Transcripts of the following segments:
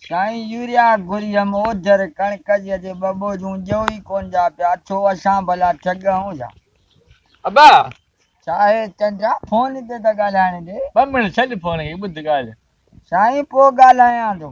سائين يوريا گريم اوجھر ڪڻڪ جي اڄ ٻه ٻوجھون ڏيو ئي ڪون ڏيا پيا ڇو اسان ڀلا ٺڳ آهون ڇا. ابا ڇا هي چنڊا فون تي ته ڳالهائڻ ڏي. ٻه منٽ ڇڏ فون کي ٻڌ ڳالهه. سائين پوء ڳالهايان ٿو.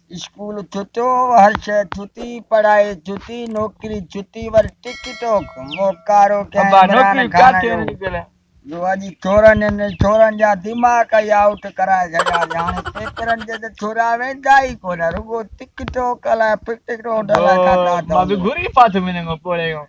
اسڪول ڇتو هر شئي ڇتي پڙهائي ڇتي نوڪري ڇتي ور ٽڪ ٽوڪ موڪارو ڪيائين عمران خان جو جو اڄ ڇورن ان ڇورن جا دماغ ئي آئوٽ ڪرائي ڇڏيا سي هاڻي پيپرن تي ته ڇورا ويندا ئي ڪونه رڳو ٽڪ ٽوڪ الائي ڦٽ روڊ الائي ڇا ڇا ٿا مان به گهري پاٿو منهن مان پوڙهيون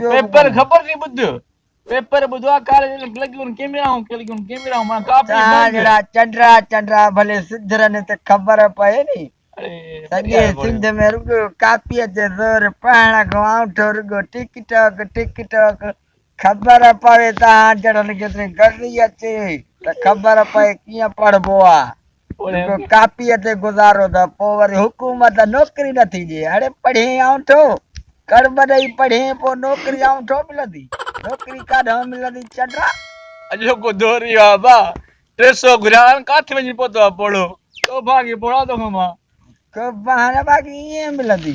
پيپر خبر ٿي ٻڌ پيپر ٻڌو آ ڪاليج ۾ لڳيون ڪيميرائون لڳيون ڪيميرائون مان ڪاپي مان جهڙا چنڊرا چنڊرا ڀلي سڌرن ته خبر پئي ني سڄي سنڌ ۾ رڳو ڪاپي تي زور پهڻ کان آنٺو رڳو ٽيڪ ٽاڪ ٽيڪ ٽاڪ خبر پوي تهان جهڙن کي ته گرمي اچي ته خبر پئي ڪيئن پڙهبو آ جيڪو ڪاپيء تي گذارو ته پوء وري حڪومت نوڪري نٿي ڏئي. اڙي پڙهين آنٺو، ڪڙ ٻه ڏئي پڙهين، پوء نوڪري آنٺو ملندي. نوڪري ڪاڏانهن ملندي چڊا. اڄوڪو دور اهو آهي ڀاء، ٽي سؤ گهريا هاڻ ڪاٿ وڃي پهتو آهي پوڙهو. ڪو ڀاڳي پوڙها ٿو کمان. ڪو بهانه باقي ائين ملندي.